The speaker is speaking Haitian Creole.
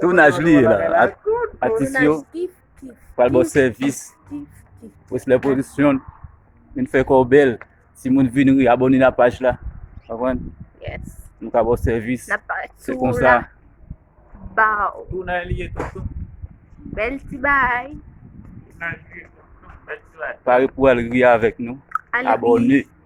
Tounaj li la, atis yo pral bo sèvis, wè se lè pozisyon, vin fè kò bèl, si moun vin ri, abone nan paj la, avwen, nou ka bo sèvis, se kon sa. Tounaj li e tonton. Bèl ti bay. Tounaj li e tonton, bèl ti bay. Pare pou al ri avèk nou, abone.